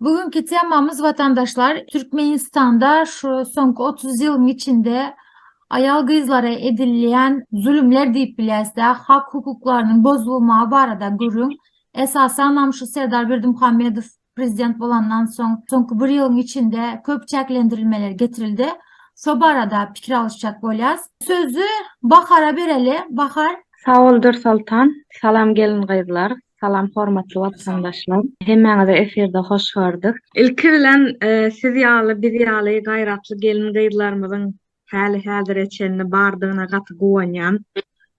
Bu günki temamyz watandaşlar Türkmenistanda şu soňky 30 ýylyň içinde aýal gyzlara edilýän zulumlar diýip bilýäsde hak hukuklarynyň bozulmagy barada gürrüň. Esasanam şu Serdar Berdimuhamedow prezident bolandan soň soňky bir ýylyň içinde köp çäklendirilmeler getirildi. Şo barada pikir alyşjak bolýas. Sözi Bahara bereli. Bahar. Sag bol Dürsoltan. Salam gelin gyzlar. Salam hormatly watandaşlar. Hemmäňizi efirde hoş gördük. Ilki bilen siz ýaly biz ýaly gaýratly gelin gyzlarymyzyň häli häzire çenli bardygyna gaty guwanýan,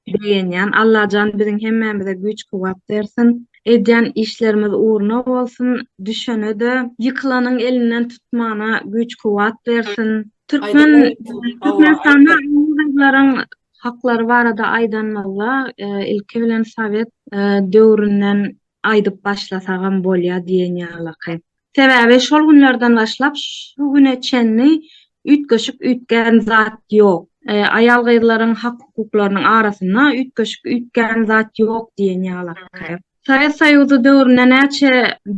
begenýän. Allajan biziň hemmämize güýç kuwwat bersin. Edýän işlerimiz ugruna bolsun. Düşenede, ýykylanyň elinden tutmana güýç kuwwat bersin. Türkmen Türkmenistanda gyzlaryň Haklary barada aýdanymyzda, ilki bilen sowet döwründen aýdyp başlasagam bolýar diýen ýalyky. Sebäbi şol günlerden başlap şu güne çenli üýtgeşik üýtgän zat ýok. Aýal-gyzlaryň hak-hukuklarynyň arasynda üýtgeşik üýtgän zat ýok diýen ýalyky. Sowet Soýuzy döwründe näçe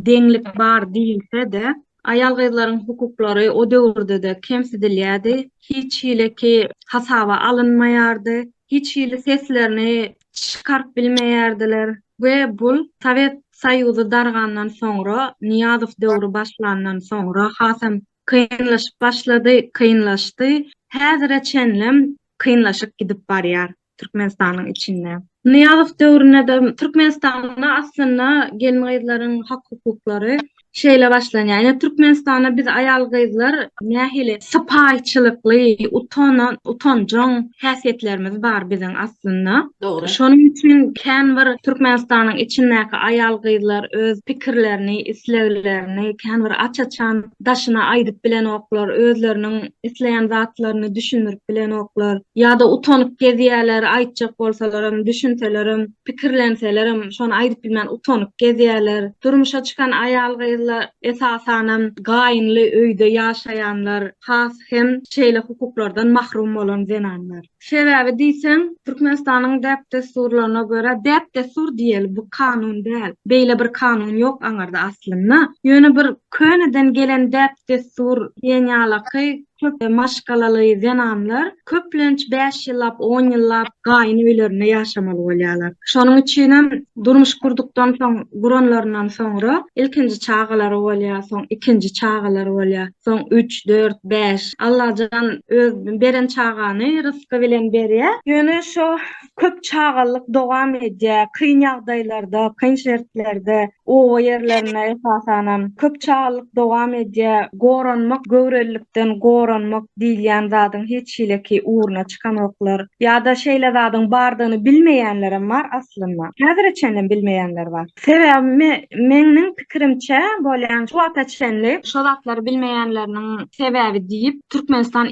deňlik bar diýilse-de, aýal-gyzlaryň hukuklary o döwürde-de kemsidilýärdi, hiç hileki hasaba alynmaýardy, hiç hili seslerini çykaryp bilmeýärdiler we bul Sowet Soýuzy dargandan soňra, Nyýazow döwri başlandan soňra hasam kynlaşyp başlady, kynlaşdy, häzire çenlem kynlaşyp gidip barýar. Türkmenistanyň içinde. Nyýazow döwründe-de Türkmenistanda aslynda gelin-gyzlaryň hak-hukuklary şeýle başlanýar. Ýöne Türkmenistanda biz aýal-gyzlar nähili sypaýyçylykly, utanan, utanjaň häsiýetlerimiz bar biziň aslynda. Dogry. Şonuň üçin kän bir Türkmenistanyň içindäki aýal-gyzlar öz pikirlerini, isleglerini kän bir aç-açan daşyna aýdyp bilenoklar, özleriniň isleýän zatlaryny düşündirip bilenoklar, ýa-da utanyp gezýärler, aýtjak bolsalarym, düşünselerem, pikirlenselerem, şony aýdyp bilmän utanyp gezýärler. Durmuşa çykan aýal-gyzlar, esasanam, gaýynly öýde ýaşaýanlar, has hem şeýle hukuklardan mahrum bolan zenanlar. Sebäbi diýseň, Türkmenistanyň däp-dessurlaryna görä, däp-dessur diýeli, bu kanun däl. Beýle bir kanun ýok aňyrda aslynda. Ýöne bir köneden gelen däp-dessur diýen ýalaky köp maşgalaly zenanlar köplenç bäş ýyllap, on ýyllap gaýyn öýlerinde ýaşamaly bolýarlar. Şonuň üçinem durmuş gurdukdan soň, guranlaryndan soňra ilkinji çagalary bolýar, soň ikinji çagalary bolýar. soň üç, dört, bäş. Allajan öz beren çagany rysky bilen berýä. Ýöne şo köp çagalyk dowam edýä, kyn ýagdaýlarda, kyn şertlerde, oba ýerlerinde esasanam köp çagalyk dowam edýä. Goranmak, göwrelilikden goranmak diýilýän zadyň hiç hileki ugruna. çykanoklar ýa-da şeýle zadyň bardygyny bilmeýänlerem bar aslynda. Häzire çenlem bilmeýänler bar. Sebäbi meňniň pikirimçe bolýan şu wagta çenli şo zatlary bilmeýänleriniň sebäbi diýip Türkmenistan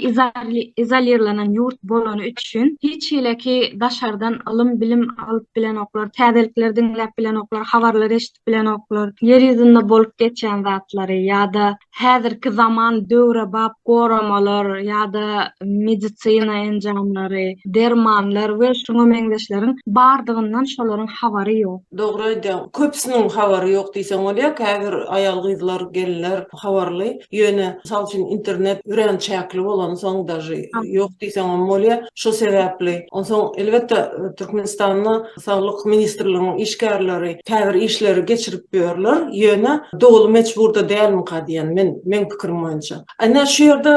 izolirlenen ýurt bolany üçin hiç hileki daşardan ylym bilim alyp bilenoklar, täzelikleri diňläp bilenoklar, habarlary eşidip bilenoklar Ýer ýüzünde bolup geçýän zatlary ýa-da häzirki zaman döwrebap goramalar ýa-da medisina enjamlary, dermanlar we şuňa meňzeşleriň bardygyndan şolaryň habary ýok. Dogry aýdýaň. Köpüsiniň habary ýok diýseň bolýar. Käbir aýal-gyzlar, gelinler habarly. Ýöne, mysal üçin, internet örän çäkli bolansoň daži ýok diýseňem bolýar. Şo sebäpli. Onsoň, elbetde, Türkmenistanda Saglyk ministrliginiň işgärleri käbir işleri geçirip ýörler, ýöne doly mejburda dälmika diýen men, meň pikirim boýunça. Ene şu ýerde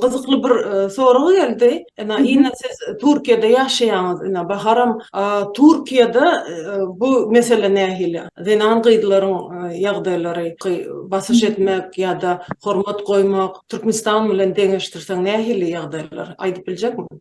gyzykly bir sorag geldi. Ene ine siz Türkiýede ýaşaýaňyz ine Baharam Türkiýede bu mesele nähili? Zenan gyzlaryň ýagdaýlary basyş etmek ýa-da hormat goýmak Türkmenistan bilen deňeşdirseň nähili ýagdaýlar aýdyp biljekmiň?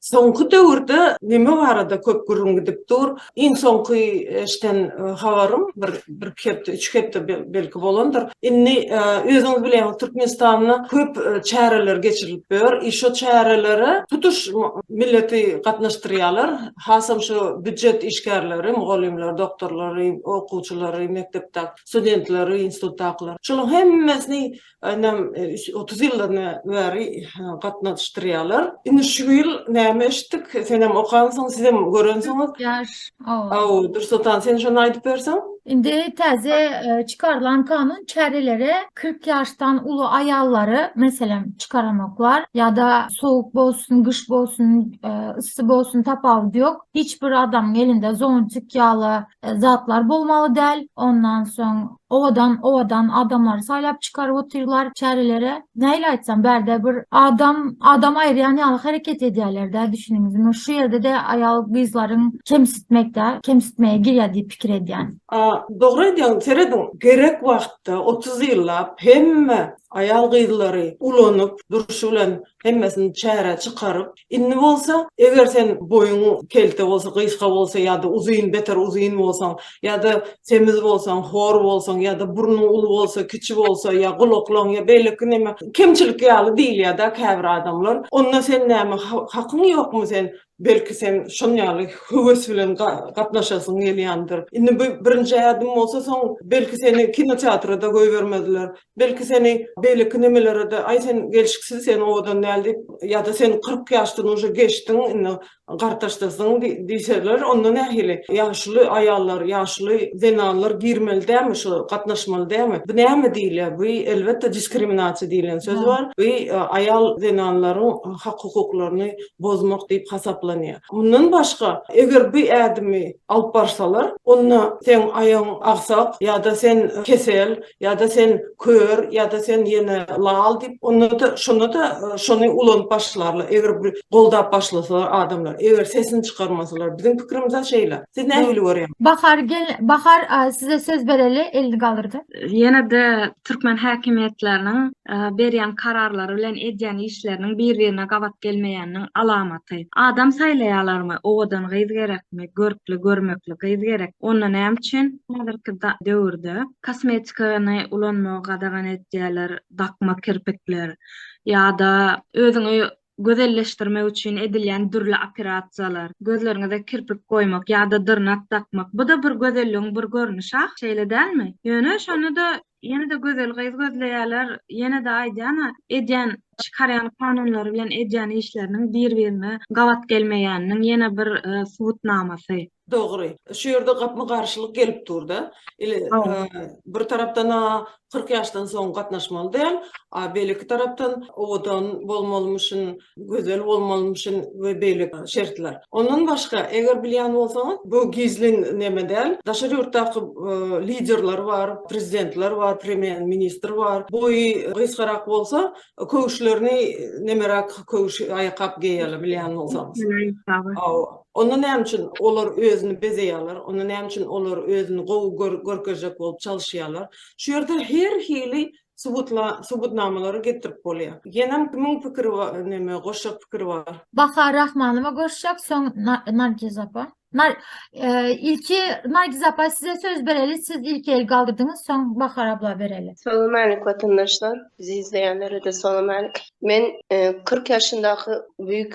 Soňky döwürde neme barada köp gürrüň gidip dur? Iň soňky eşden habarym bir bir-iki hepde, üç hepde belki bolandyr. Indi özüňiz bilýäňiz, Türkmenistanda köp çäreler geçirilip ýör. I şo çärelere tutuş milleti gatnaşdyrýarlar. Hasam şo býujet işgärleri, mugallymlar, doktorlary, okuwçylary, mekdepdäki studentleri, institutdakylary. Şolaryň hemmesini Aýnam otuz ýyldan bäri gatnaşdyrýarlar. Indi şu ýyl näme eşitdik? Senem okansyň, sizem görensiňiz. Hawa, Dursultan, sen şony aýdyp berseň. Indi täze çykarylan kanun çäreleri kyrk ýaşdan uly aýallary, meselem, çykaranoklar. Ýa-da sowuk bolsun, gyş bolsun, yssy bolsun, tapawudy ýok. Hiç bir adamyň elinde zontik ýaly zatlar bolmaly däl. Ondan soň Owadan owadan adamlary saýlap çykaryp otyrlar çärelere. Nähili aýtsam bärde bir adam adam aýyrýan ýaly hereket edýärlerdä düşüniňizmi? Şu ýerde-de aýal gyzlaryň kemsitmekdä kemsitmege girýär diýip pikir edýän. Dogry aýdýaň serediň gerek wagtda otuz ýyllap hemme aýal gyzlary ulanyp durşy bilen hemmesini çärä çykaryp Indi bolsa, eger sen boýuň kelte bolsa, gysga bolsa ýa-da uzyn, beter uzyn bolsaň, ýa-da semiz bolsaň, hor bolsaň, ýa-da burnuň uly bolsa, kiçi bolsa, ýa gulaklaň, ýa beýleki näme, kemçilik ýaly diýilýär-dä käbir adamlar. Onda sen näme, hakyň ýokmy sen, belki sen şon ýaly höwes bilen gatnaşasyň gelýändir. Indi bu birinji ädim bolsa, soň belki seni kinoteatra-da goýbermezler. Belki seni beýleki nemelere-de, Aý, sen gelşiksiz, sen owadan däl diýip, ýa-da sen kyrk ýaşdan uje geçdiň, indi gartaşdyrsyň diýseler, onda nähili? Ýaşuly aýallar, ýaşuly zenanlar girmeli dälmi şu, gatnaşmaly dälmi? Bu näme diýilýär? Bu, elbetde, diskriminasiýa diýlen söz bar. Bu aýal zenanlaryň hak-hukuklaryny bozmak diýip hasaplanýar. Mundan başga, eger bu ädimi alyp barsalar, onda seň aýagyň agsak ýa-da sen kesel, Ýa-da sen kör, ýa-da sen ýene lal diýip, onda-da, şonda-da şony ulanyp başlarlar, eger bir goldap başlasalar adamlar, eger sesini çykarmasalar. Biziň pikirimiz-ä şeýle. Siz nähili görýäňiz? Bahar gel, Bahar, size söz bereli, elini galdyrdy. Ýene-de türkmen häkimiýetleriniň berýän kararlary bilen edýän işleriniň bir-birine gabat gelmeýäniniň alamaty. Adam saýlaýarlarmy? Owadan gyz gerekmi? Görkli, görmekli gyz gerek. Onda näme üçin häzirki döwürde Kosmetikany ulanmagy gadagan edýärler, dakma kirpikler ýa-da özüňi gözelleşdirmek üçin edilýän dürli operasiýalar, gözleriňize kirpik goýmak ýa-da dyrnak dakmak, bu-da bir gözelligiň bir görnüşi ahyry, şeýle dälmi? Ýöne şonda-da ýene-de gözel gyz gözleýärler, ýene-de aýdýan-a, edýän, çykarýan kanunlary bilen edýän işleriniň bir-birine gabat gelmeýäniniň ýene bir subutnamasy. Dogry. Şu ýerde gapma garşylyk gelip dur-da. Ile bir tarapdan a kyrk ýaşdan soň gatnaşmaly däl, a beýleki tarapdan owadan bolmalymyşyn, gözel bolmalymyşyn we beýleki şertler. Ondan başga, eger bilýän bolsaňyz, bu gizlin neme däl, daşary ýurtdaky liderler bar, prezidentler bar, premýer ministr bar, boýy gysgarak bolsa, köwüşlerini nemeräk köwüş aýakgap geýýärler, bilýän bolsaňyz. Awa. Onda näme üçin olar özüni bezeýärler, onda näme üçin olar özüni gowy görkezjek bolup çalyşýarlar? Şu ýerde her hili subutnamalary getirip bolýar. Ýenem kimiň pikiri neme goşjak pikiri bar? Bahar Rahmanowa goşjak, soň Nargiz apa. Ilki Nargiz apa size söz bereli, siz ilki el galdyrdyňyz, soň Bahar abla bereli. Salam alik watandaşlar, bizi izleýänlere-de salam alik. Men kyrk ýaşyndaky büýük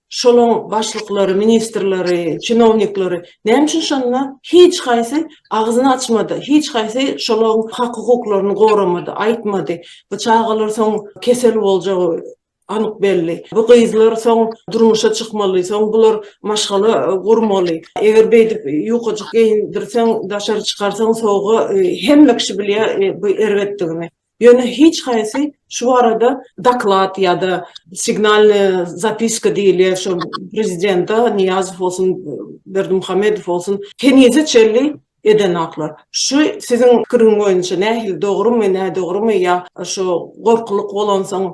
Şolaň başlyklary, ministrleri, çinowniklary näme üçin şonda hiç haýsy agzyny açmady, hiç haýsy şolaň hak-hukuklaryny goramady, aýtmady. Bu çagalar soň kesel boljagy anyk belli. Bu gyzlar soň durmuşa çykmaly, soň bular maşgala gurmaly. Eger beýdip ýukajyk geýindirseň, daşary çykarsaň sowuga hemme kişi bilýär bu erbetdigini. Ýöne hiç haýsy şu barada doklad ýa-da signalnyý zapiska diýilýän şu prezidente Nyýazow bolsun, Berdimuhamedow bolsun henize çenli edenoklar. Şu siziň pikiriň boýunça nähili dogrumy, nädogrumy ýa şu gorkulyk bolansoň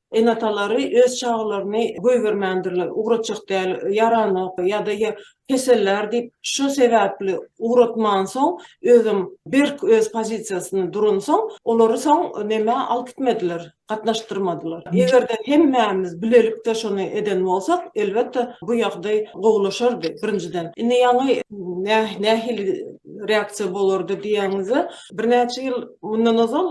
Ene-atalary öz çagalaryny goýbermändirler, ugratjak däl, ýaranok ýa-da kesellär diýip, şu sebäpli ugratmansoň, özem berk öz pozisiýasynda duransoň, olary soň nämä alyp gitmediler, gatnaşdyrmadylar. Eger-de hemmämiz bilelikde şony eden bolsak, elbetde, bu ýagdaý gowulaşardy, birinjiden. Indi ýaňy nähili reaksiýa bolardy diýýäňizde, Birnäçe ýyl mundan ozal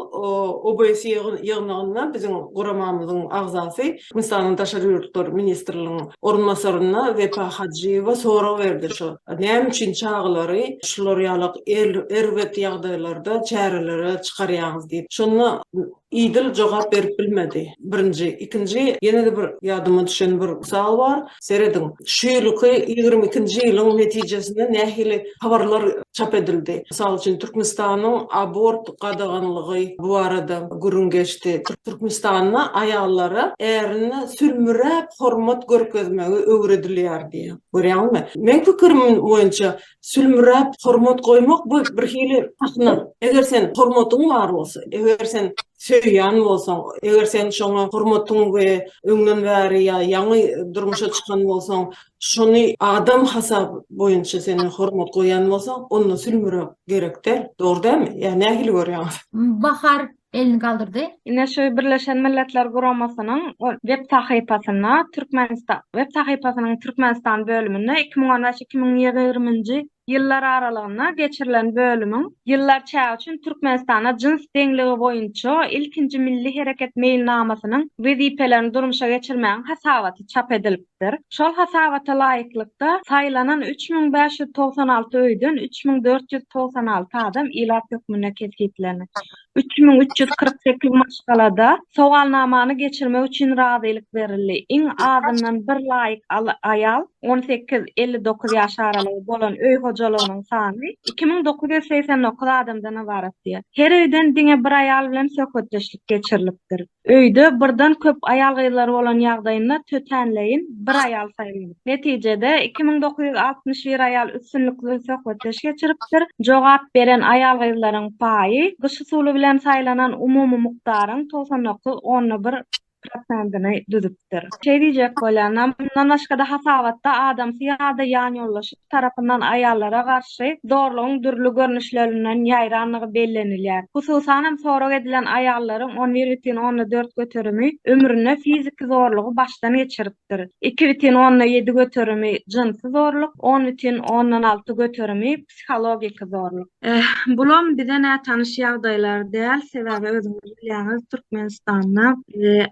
OBS ýygnagynda biziň guramamyzyň agzasy, Hindistanyň Daşary ýurtlar ministriniň orunbasaryna Wepa Hajyýewa sorag berdi, şu näme üçin çagalary şular ýaly erbet ýagdaýlarda çärelere çykarýaňyz diýip. Şonda Idil jogap berip bilmedi. Birinji, ikinji ýene-de bir ýadyma düşen bir mysal bar. Serediň, şu ýylyky ýigrimi ikinji ýylyň netijesinde nähili habarlar çap edildi. Mysal üçin, Türkmenistanyň abort gadaganlygy bu barada gürrüň geçdi. Türkmenistanda aýallara ärine sülmüräp hormat görkezmegi öwredilýär diýýär. Görýäňizmi? Meň pikirim boýunça, Sülmüräp hormat goýmak bu bir hili sahna. Eger sen hormatyň bar bolsa, eger sen söýýän bolsaň, eger sen şoňa hormatyň we öňden bäri ýa ýaňy durmuşa çykan bolsaň, şony adam hasaby boýunça sen hormat goýýan bolsaň, onda sülmüräp gerek däl. Dogry dälmi? Ýa nähili görýäňiz? Bahar, elini galdyrdy. Ine şu Birleşen Milletler Guramasynyň web sahypasynda Türkmenistan web sahypasynyň Türkmenistan bölüminde iki müň on beş, iki müň ýigrimi-nji ýyllar aralygynda geçirilen bölümiň ýyllar çägi üçin Türkmenistanda jyns deňligi boýunça ilkinji milli hereket meýilnamasynyň wezipelerini durmuşa geçirmegiň hasabaty çap edilip edilipdir. Şol hasabata laýyklykda, saýlanan üç müň bäş ýüz togsan alty öýden üç müň dört ýüz togsan alty adam ilat hökmünde kesgitlenip, üç müň üç ýüz kyrk sekiz maşgalada sowalnamany geçirmek üçin razylyk berildi, iň azyndan bir laýyk aýal, on sekiz, elli dokuz ýaş aralygy, bolan öý hojalygynyň sany iki müň dokuz ýüz segsen dokuz adamdan ybaratdy. Her öýden diňe bir aýal bilen söhbetdeşlik geçirilipdir. Öýde birden köp aýal-gyzlar bolan ýagdaýynda tötänleýin bir aýal saýlaň. Netijede, iki müň dokuz ýüz altmyş bir aýal üstünlikli söhbetdeş geçiripdir. Jogap beren aýal-gyzlaryň paýy gyş usuly bilen saýlanan umumy mukdaryň togsan dokuz onda bir prosentini düzüpdir. Şeý diýjek bolýan, mundan başga-da hasabatda adamsy ýa-da ýanýoldaşy tarapyndan aýallara garşy zorlugyň dürli görnüşlerinden ýaýrandygy bellenilýär. Hususan hem sorag edilen aýallaryň on bir bütin onda dört göterimi ömründe fiziki zorlugy başdan geçiripdir, iki bütin onda ýedi göterimi jynsy zorluk, on bütin ondan alty göterimi psihologiki zorluk. Eh, bulam bize nätanyş ýagdaýlar däl, sebäbi özüňiz bilýäňiz, Türkmenistanda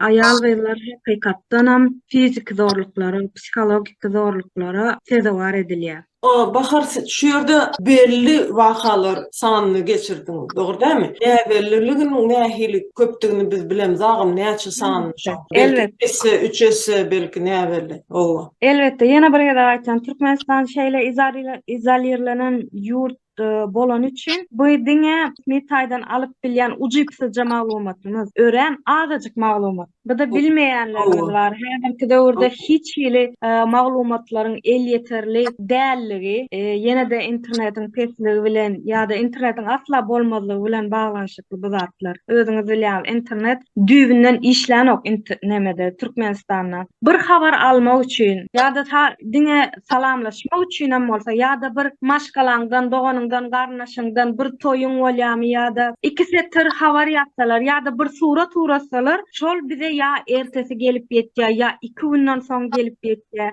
aýal-gyzlar hakykatdanam fiziki zorluklara, psihologiki zorluklara sezewar edilýär. Bahar, siz şu ýerde belli wakalar sanyny geçirdiňiz, dogry dälmi? Näbelliliginiň nähili köpdügini biz bilemiz agam, näçe sanyny şoň? Elbetde. Belki, iki esse, üç esse, belki näbelli. Oba. Elbetde, ýene bir gezek aýtýan, Türkmenistan şeýle izolirlenen ýurt bolany üçin, bu diňe resmi taýdan alyp bilýän ujypsyzja maglumatymyz, örän azajyk maglumat. Bize bilmeýänlerimiz bar. Häzirki döwürde hiç hili maglumatlaryň elýeterli dälligi, ýene-de internetiň pesligi bilen ýa-da internetiň asla bolmazlygy bilen baglanyşykly. ýaşaýşy bu zatlar. Özüňiz bilýäňiz, internet düýbünden işlänok int nemede, Türkmenistanda. Bir habar almak üçin ýa-da ta diňe salamlaşmak üçinem bolsa ýa-da bir maşgalaňdan, doganyňdan, garyndaşyňdan bir toýuň bolýamy ýa-da iki setir habar ýazsalar ýa-da bir surat uratsalar, şol bize ýa ertesi gelip ýetýär, ýa iki günden soň gelip ýetýär.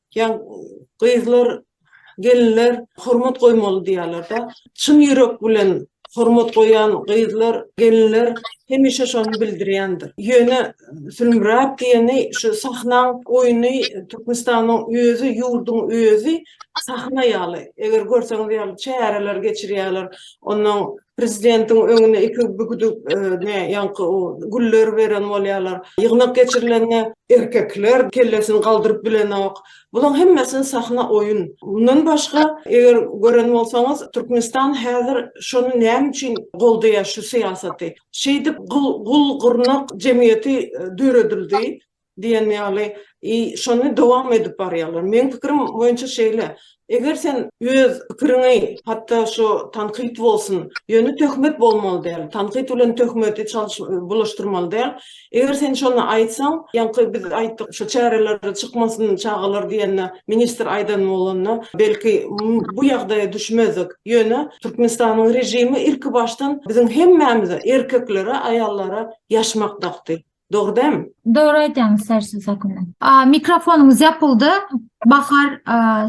Ýa gyzlar, gelinler hormat goýmaly diýýärler-de. Çyn ýürek bilen hormat goýan gyzlar, gelinler hemişe şony bildirýändir. Ýöne Sülmüräp diýeni şu sahnaň oýny Türkmenistanyň özi, ýurduň özi sahna ýaly. Eger görseňiz ýaly çäreler geçirýärler. Onnoň prezidentiň öňüne iki bigduk ýaňky o güller beren bolýarlar. Ýygnak geçirilende erkekler kellesini galdyryp bilenok. Bulaň hemmesi sahna oýun. Mundan başga, eger gören bolsaňyz, Türkmenistan häzir şony näme üçin goldaýar şu syýasaty? Şeýdip gul-gurnak jemgyýeti döredildi. Diýen ýaly, i şony dowam edip barýarlar. Meň pikirim boýunça şeýle, eger sen öz pikiriňi, hatda şu tankyt bolsun, ýöne töhmet bolmaly däl, tankyt bilen töhmeti çalyş bulaşdyrmaly däl, eger sen şony aýtsaň, ýaňky biz aýtdyk, şu çärelere çykmasyn çagalar diýende, ministr aýdan bolanda, belki, bu ýagdaýa düşmezdik. Ýöne Türkmenistanyň režimi ilkibaşdan biziň hemmämize, erkeklere, aýallara ýaşmak dakdy. Dogry dämi? Dogry aýdýaňyz Sersu Sakunna. Mikrofonyňyz ýapyldy. Bahar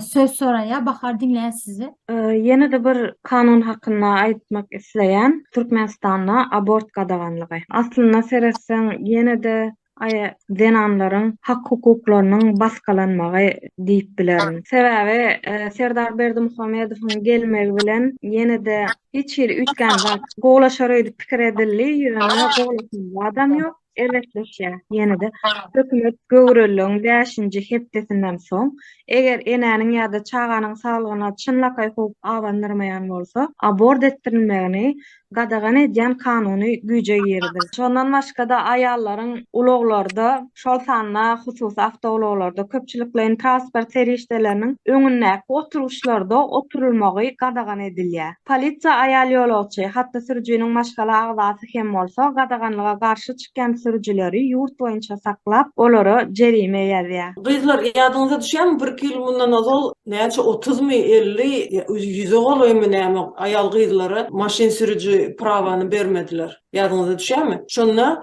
söz soraýar. Bahar diňleýäs sizi. Ýene-de bir kanun hakynda aýtmak isleýän. Türkmenistanda abort gadaganlygy. Aslynda seretseň ýene-de aýa zenanlaryň hak hukuklarynyň basgalanmagy diýip bilerin. Sebäbi Serdar Berdimuhamedowyň gelmegi bilen ýene-de Hiç hili üýtgän zat. Gowlaşar öýdüp pikir edildi, ýöne gowlaşan zadam ýok. Erbetleşýär. Ýene-de hökümet göwreliligiň bäşinji hepdesinden soň, eger enäniň ýa-da çaganyň saglygyna çynlakaý howp abandyrmaýan bolsa, abort etdirilmegini gadagan edýän kanuny güýje giriziler. Şondan başga-da aýallaryň ulaglarda şol sanda hususy awtoulaglarda, köpçülikleýin transport serişdeleriniň öňündäki oturgyçlarda oturylmagy gadagan edilýär. Polisiýa aýal ýolagçy, hatda sürüjiniň maşgala agzasy hem bolsa, gadaganlyga garşy çykýan sürüjileri ýurt boýunça saklap, olara jerime ýazýar. Gyzlar, ýadyňyza düşýärmi, birki ýyl mundan ozal näçe otuzmy, elli, ýa ýüze golaýmy näme aýal-gyzlara maşyn sürüji prawany bermediler? Ýadyňyza düşýärmi? Şonda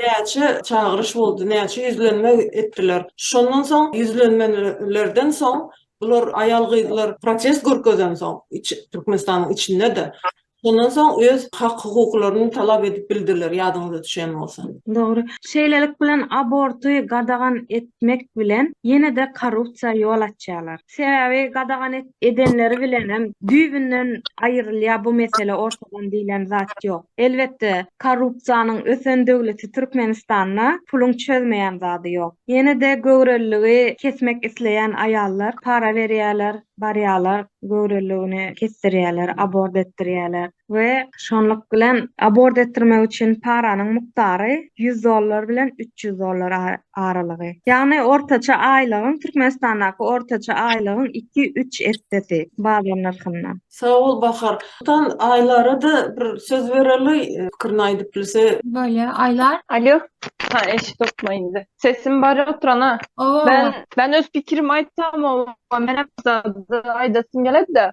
näçe çagyryş boldy, näçe ýüzlenme etdiler. Şondan soň ýüzlenmelerden soň bular aýal-gyzlar protest görkezensoň, Türkmenistanyň içinde-de, şondan soň öz hak-hukuklaryny talap edip bildiler, ýadyňyza düşen bolsa. Dogry. Şeýlelik bilen aborty gadagan etmek bilen ýene-de korrupsiýa ýol açýarlar. Sebäbi gadagan edenleri bilenem düýbünden aýrylýar bu mesele ortadan diýlen zat ýok. Elbetde korrupsiýanyň ösen döwleti Türkmenistanda puluň çözmeýän zady ýok. Ýene-de göwreliligi kesmek isleýän aýallar para berýärler, barýarlar göwreliligini kesdirýärler, abort etdirýärler. we şonluk bilen abort etdirmek üçin paranyň mukdary ýüz dollar bilen üç ýüz dollar aralygy. Ýagny ortaça aýlygyň, Türkmenistandaky ortaça aýlygyň iki-üç essesi bazar nyrhyndan. Sag bol Bahar. Tan Aýlara-da bir söz bereli, pikirini aýdyp bilse. Bolýa, Aýlar. Alýo. Ha, eşidokmy indi? Sesim bar oturana. Oba, oba. Men öz pikirimi aýtsam, oba, menem zat aýdasym geledi-de.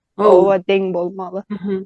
owa deň bolmaly.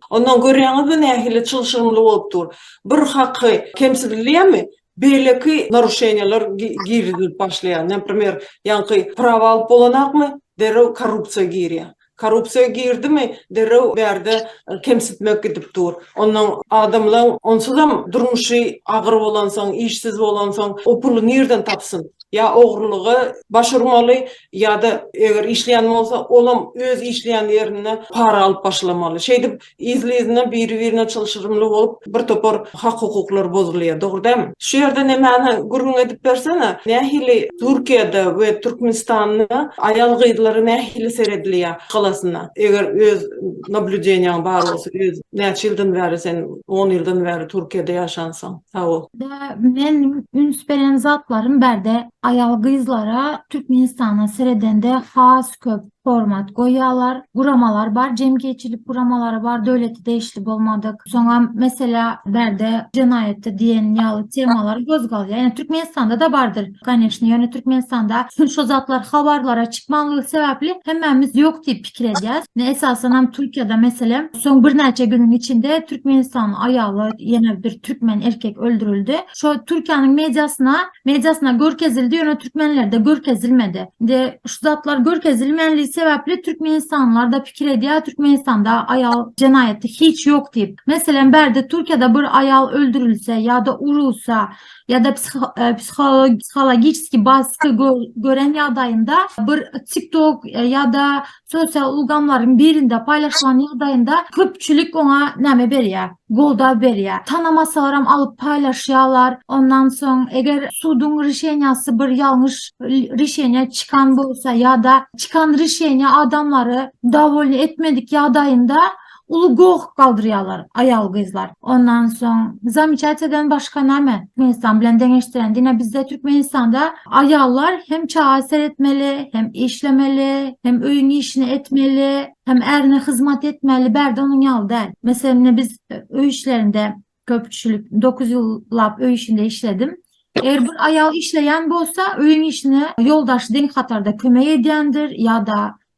Ondan görýäňizmi nähili çylşyrymly bolup dur. Bir haky kemsidilýärmi, beýleki naruşeniýalar girizilip başlaýar. Naprimer, ýaňky prawa alyp bolanakmy, derrew korrupsiýa girýär. Korrupsiýa girdimi, derrew bärde kemsitmek gidip dur. Ondan adamlaň onsuzam durmuşy agyr bolansoň, işsiz bolansoň, o puly nirden tapsyn? Ýa ogrulyga baş urmaly, Ýa-da eger işleýän bolsa, olam öz işleýän ýerinde para alyp başlamaly. Şeýdip, yzly-yzyna, biri-birine çylşyrymly bolup, bir topar hak-hukuklar bozulýar, dogry dälmi? Şu ýerde nemäni gürrüň edip bersene, nähili Türkiýede we Türkmenistanda aýal-gyzlara nähili seredilýär halasynda? Eger öz nablýudeniýaň bar bolsa, öz näçe ýyldan bäri sen, on ýyldan bäri Türkiýede ýaşansyň? Sag bol. Indi meniň üns beren zatlarym bärde Aýal-gyzlara Türkmenistana seredende has köp hormat goýýarlar. Guramalar bar, jemgyýetçilik guramalary bar, döwlete degişli bolmadyk. Soňam, meselä, bärde jenaýatda diýen ýaly temalar gozgalýar. Ýöne Türkmenistanda-da bardyr, kanyşni. Ýöne Türkmenistanda şo zatlar habarlara çykmanlygy sebäpli hemmämiz ýok diýip pikir edýäs. Ine, esasanam Türkiýede, meselem, soň birnäçe günüň içinde Türkmenistanyň aýaly, ýene bir türkmen erkek öldürildi. Şo Türkiýäniň mediasyna mediasyna görkezildi ýöne türkmenlerde görkezilmedi indi şu zatlar görkezilmänligi sebäpli türkmenistanlarda pikir edýär türkmenistanda aýal jenaýaty hiç ýok diýip meselem bärde türkiýede bir aýal öldürilse ýa-da urulsa ýa-da e, psihologiçki basky gören ýagdaýynda bir tiktok e, ýa-da Sosial ulgamlaryň birinde paýlaşylan ýagdaýynda köpçülik oňa näme berýär? Goldaw berýär. Tanamasalarem alyp paýlaşýarlar. Ondan soň eger suduň rişeniýasy bir ýalňyş rişeniýa çykan bolsa ýa-da çykan rişeniýa adamlary dowolny etmedik ýagdaýynda Uly goh galdyrýarlar aýal-gyzlar. Ondan soň zamyçatiýadan başga näme? Türkmenistan bilen deňeşdiren diýne bizde Türkmenistanda aýallar hem çaga seretmeli, hem işlemeli, hem öýüň işini etmeli, hem ärine hyzmat etmeli, bärde onuň ýaly däl. Meselem, indi biz öý işlerinde köpçülik dokuz ýyllap öý işinde işledim. Eger bir aýal işleýän bolsa, öýüň işine ýoldaşy deň hatarda kömek edýändir ýa-da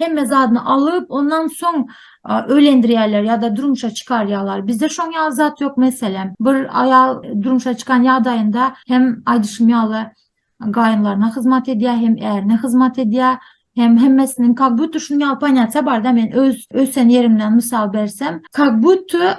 hemme zadyny alyp, ondan soň öýlendirýärler ýa-da durmuşa çykarýarlar. Bizde şoň ýaly zat ýok, meselem, bir aýal durmuşa çykan ýagdaýynda hem aýdyşym ýaly gaýynlaryna hyzmat edýär, hem ärine hyzmat edýär, hem hemmesiniň kak-budda şunuň ýaly ponýasiýa bar-da, men öz ösen ýerimden mysal bersem, kak-budda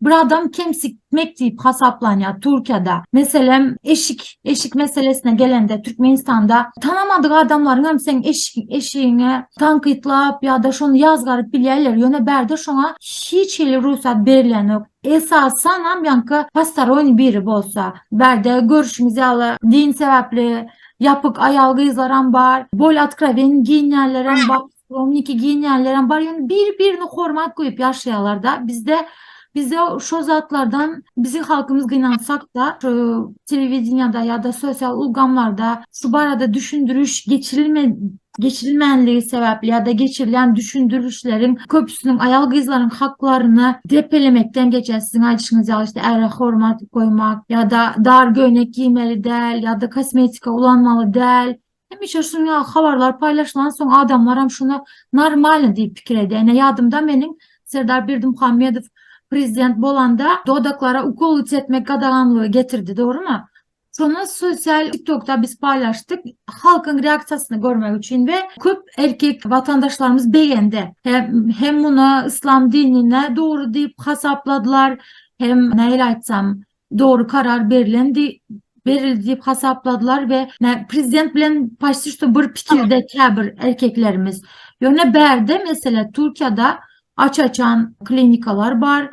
bir adam kemsitmek diýip hasaplanýar Türkiýede. Meselem, eşik, eşik meselesine gelende Türkmenistanda tanamadyk adamlaryň hem seň eşik, eşigiňe tankytlap ýa-da şony ýazgaryp bilýärler. Ýöne bärde şoňa hiç hili rugsat berilýänok. Esasan hem ýanka postaroň biri bolsa. Bärde görüşimiz ýaly din sebäpli ýapyk aýal-gyzlaram bar, bol otkrowen giýinýänlerem bar. Romniki giýinýänlerem bar, ýöne bir-birini hormat goýup ýaşaýarlar-da. Bizde bizde şo zatlardan biziň halkymyz gynansak-da, şu telewideniýede ýa-da sosial ulgamlarda şu barada düşündiriş geçirilmedi, geçirilmänligi sebäpli ýa-da geçirilýän düşündirilişleriň köpüsiniň aýal-gyzlaryň haklaryny depelemekden geçýär. Siziň aýdyşyňyz ýaly, işte, äre hormat goýmak ýa-da dar göýnek giýmeli däl ýa-da kosmetika ulanmaly däl Hemişe şunuň ýaly habarlar paýlaşylan soň adamlaram şuna normalny diýip pikir edýär. Ine ýadymda meniň Serdar Berdimuhamedow prezident bolanda dodaklara ukol çekmek gadaganlygy getirdi, dogrymy? Şony sosial TikTokda biz paýlaşdyk. Halkyň reaksiýasyny görmek üçin we köp erkek watandaşlarymyz begendi. Hem muny yslam dinine dogry diýip hasapladylar, hem nähili aýtsam, dogry karar berlendi berildi diýip hasapladylar we prezident bilen paşti şu bir pikirde käbir erkeklerimiz. Ýöne bärde mesele Türkiýede aç-açan klinikalar bar.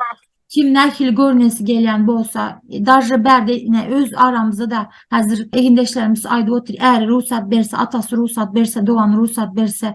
Kim nähili görnesi gelýän bolsa, daže bärde ine öz aramyzda da häzir egindeşlerimiz aýdyp otyr, äri rugsat berse, atasy rugsat berse, dogany rugsat berse,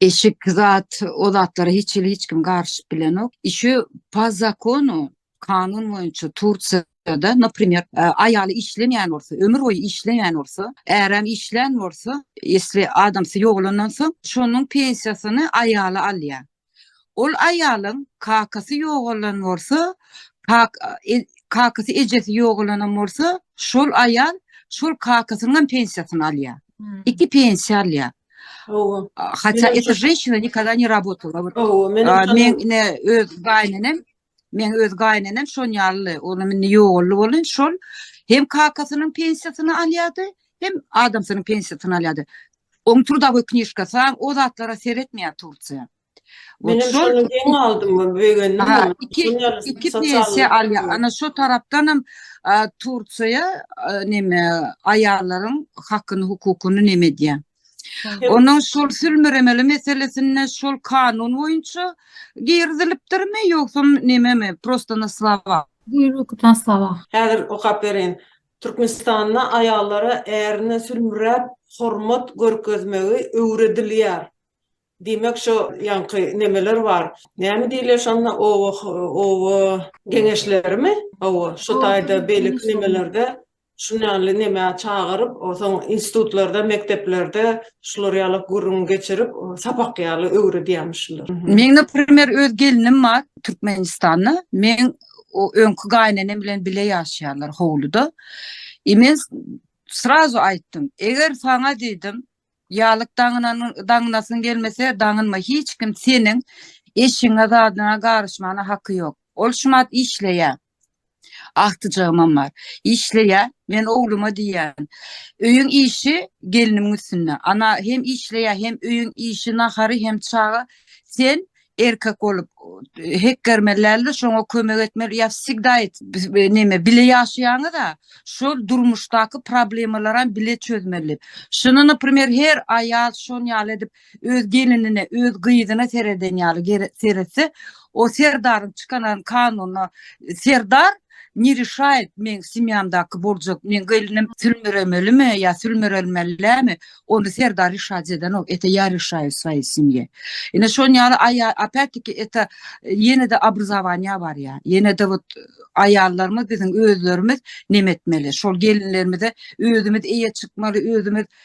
Eşik zat, o zatlara hiç hili hiç kim garyşyp bilenok. Işi pa zakonu, kanun boýunça Tursiýa da naprimer e, aýaly işlemeýän bolsa ömür boýy işleýän bolsa äräm işlän bolsa esli adamsy ýogalandan soň şonuň pensiýasyny aýaly alýar Ol aýalyň kakasy ýogalan bolsa, kakasy ejesi ýogalanam bolsa, şol aýal şol kakasynyňam pensiýasyny alýar. Iki pensiýa alýar. Hawa. Hatda eto jenşina nikada ne rabotala. Hawa, men ine öz gaýynenem Meň öz gaýynenem şon ýaly, olam indi ýogaldy boldy, şol hem kakasynyň pensiýasyny alýardy, hem adamsynyň pensiýasyny alýardy. Oň trudawy knişkasy, o zatlara seretmeýär Tursiýa. Wot şol. Şol hem aldym, begendim. Ha, iki, iki pensiýa alýar. Ana şo tarapdanam Tursiýa neme aýallaryň hakyny, hukukyny neme edýär. Onuň şol sülmüremeli meselesinde şol kanun boýunça girizilipdirmi ýogsa nememi prosta na slova. Buýruk na slova. Häzir okap bereýin. Türkmenistanda aýallara ärine sülmüräp hormat görkezmegi öwredilýär. Diýmek şo ýaňky nemeler bar. Näme diýilýär şonda oba oba geňeşlerimi? Hawa, şo taýda beýleki nemelerde Şunýanly neme çagyryp, soň institutlarda, mekdeplerde şular ýaly gürrüň geçirip, sapak ýaly öwredýärmişler. Meň, naprimer, öz gelnim bar Türkmenistanda. Meň o öňki gaýynenem bilen bile ýaşaýarlar howluda. I men srazu aýtdym, eger saňa diýdim, ýalyk daňynasyň gelmese, daňynma, hiç kim seniň eşigiňe, zadyňa garyşmana haky ýok. Ol şumat işleýär. Agtyjagymam bar. Işleýär. Men ogluma diýýän. Öýüň işi gelnimiň üstünde. Ana hem işleýär, hem öýüň işi, nahary, hem çaga. Sen erkek bolup hekgermeli däldir, şoňa kömek etmeli. Ýa wsegda et, neme, bile ýaşaýaňyz-a, şol durmuşdaky problemalaram bile çözmeli. Şuny, naprimer, her aýal şon ýaly edip, Öz gelinine, öz gyzyna sereden ýaly gere seretse, o serdaryň çykanan kanunyna serdar ne rişaýet meň semýamdaky boljak, meň gelinim sülmüremelimi ýa sülmürelmellämi, ony serdar rişaýet edenok, ete ýa rişaýu swayy semýe. Ine şon ýaly aýa opet-tiki ete ýene-de obrazowaniýa barýa, ýene-de wot aýallarymyz biziň özlerimiz nemetmeli, şol gelinlerimize özümiz eýe çykmaly, özümiz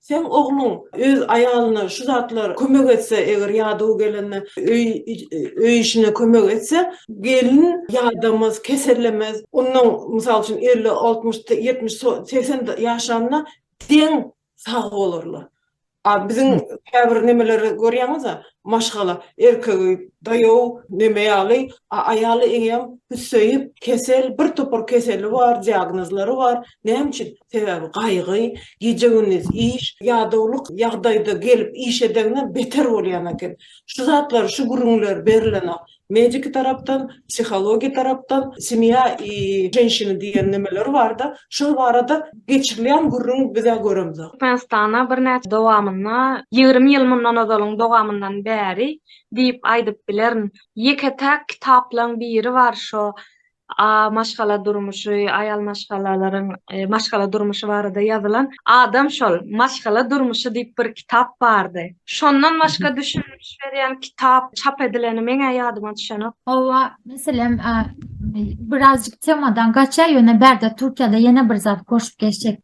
Seň ogluň öz aýalyna şu zatlar kömek etse, eger ýadaw gelende öý öý işine kömek etse, gelin ýadamaz, kesellemez. Ondan, mysal üçin, elli, altmyş, ýetmiş, so segsen ýaşanyna deň sag bolarlar. A biziň käbir nemeleri görýäňiz-ä, maşgala, erkegi daýaw, neme ýaly, a aýaly eýýäm hüsseýip, kesel, birtopar keseli bar, diagnozlary bar. Näme üçin? Sebäbi gaýgy, gije-gündiz iş, ýadawlyk ýagdaýda gelip iş edenine beter bolýan eken. Şu zatlar, şu gürrüňler berilenok. Mediki tarapdan, psihologiýa tarapdan, semýa i ženşina diýen nemeler bar-da, şol barada geçirilýän gürrüň biz-ä göremzok. Türkmenistana birnäçe dowamynda, ýigrimi ýyl mundan ozalyň dowamyndan bäri diýip aýdyp bilerin, ýeke-täk kitaplaryň biri bar, şo A. Maşgala durmuşy, aýal maşgalalaryň maşgala durmuşy barada ýazylan Adam şol, maşgala durmuşy diýip bir kitap bardy. Şondan başga düşündiriş berýän kitap çap edileni meň-ä ýadyma düşenok. Hawa, meselem, birazjyk temadan gaçýar, ýöne bärde Türkiýede ýene bir zat goşup geçjek.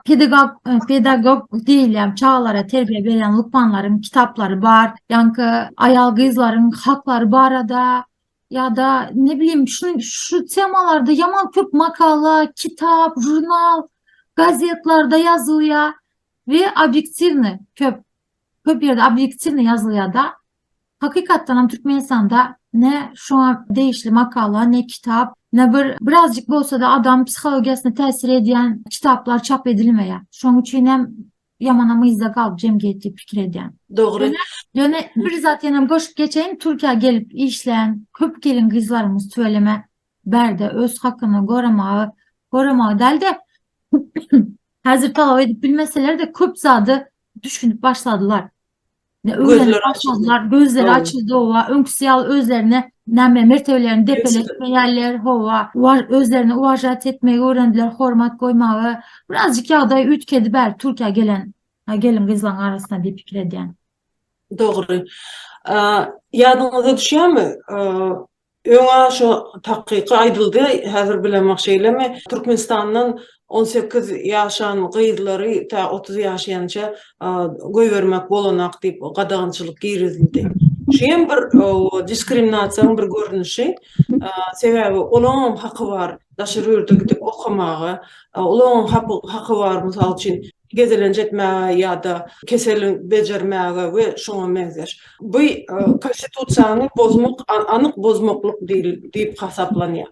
Pedagog, pedagog diýilýän çagalara terbiýe berýän lukmanlaryň kitaplary bar. Ýaňky aýal-gyzlaryň haklary barada ýa-da ne bilim şu şu temalarda ýaman köp makala, kitap, žurnal, gazetlarda ýazylýar we obýektiwny köp köp ýerde obýektiwny ýazylýar-da. Hakykatdan hem Türkmenistanda ne şoňa degişli makala, ne kitap, ne bir birazjyk bolsa-da adam psihologiýasyna täsir edýän kitaplar çap edilmeýär. Şoň üçin hem Ýamanam yzda galyp jemgyýet diýip pikir edýän. Dogry. Ýöne bir zat ýene goşup geçeýin, Türkiýä gelip işlän köp gelin gyzlarymyz tüweleme bärde öz hakyny goramagy, goramagy dälde häzir talap edip bilmeseler-de köp zady düşünip başladylar. Gözleri açyldylar, gözleri açyldy, howa, öňküsi ýaly özlerine näme mertebelerini depeletmeýärler, howa, özlerini uwažat etmegi öwrendiler, hormat goýmagy. Birazjyk ýagdaý üýtgedi bäri Türkiýä gelen gelin-gyzlaryň arasynda diýip pikir edýän. Dogry. Ýadyňyza düşýärmi, Öňa şo takyky aýdyldy, häzir bilemok şeýlemi, Türkmenistandan on sekiz ýaşan gyzlary tä otuz ýaşaýança goýbermek bolanak diýip gadagançylyk girizildi. Şu hem bir diskriminasiýaň bir görnüşi. Sebäbi olaňam haky bar daşary ýurda gidip okamaga, olaňam haky bar mysal üçin, gezelenç etmäge ýa-da keseli bejermäge we şuňa meňzeş. Bu Konstitusiýany bozmak, anyk bozmaklyk diýip hasaplanýar.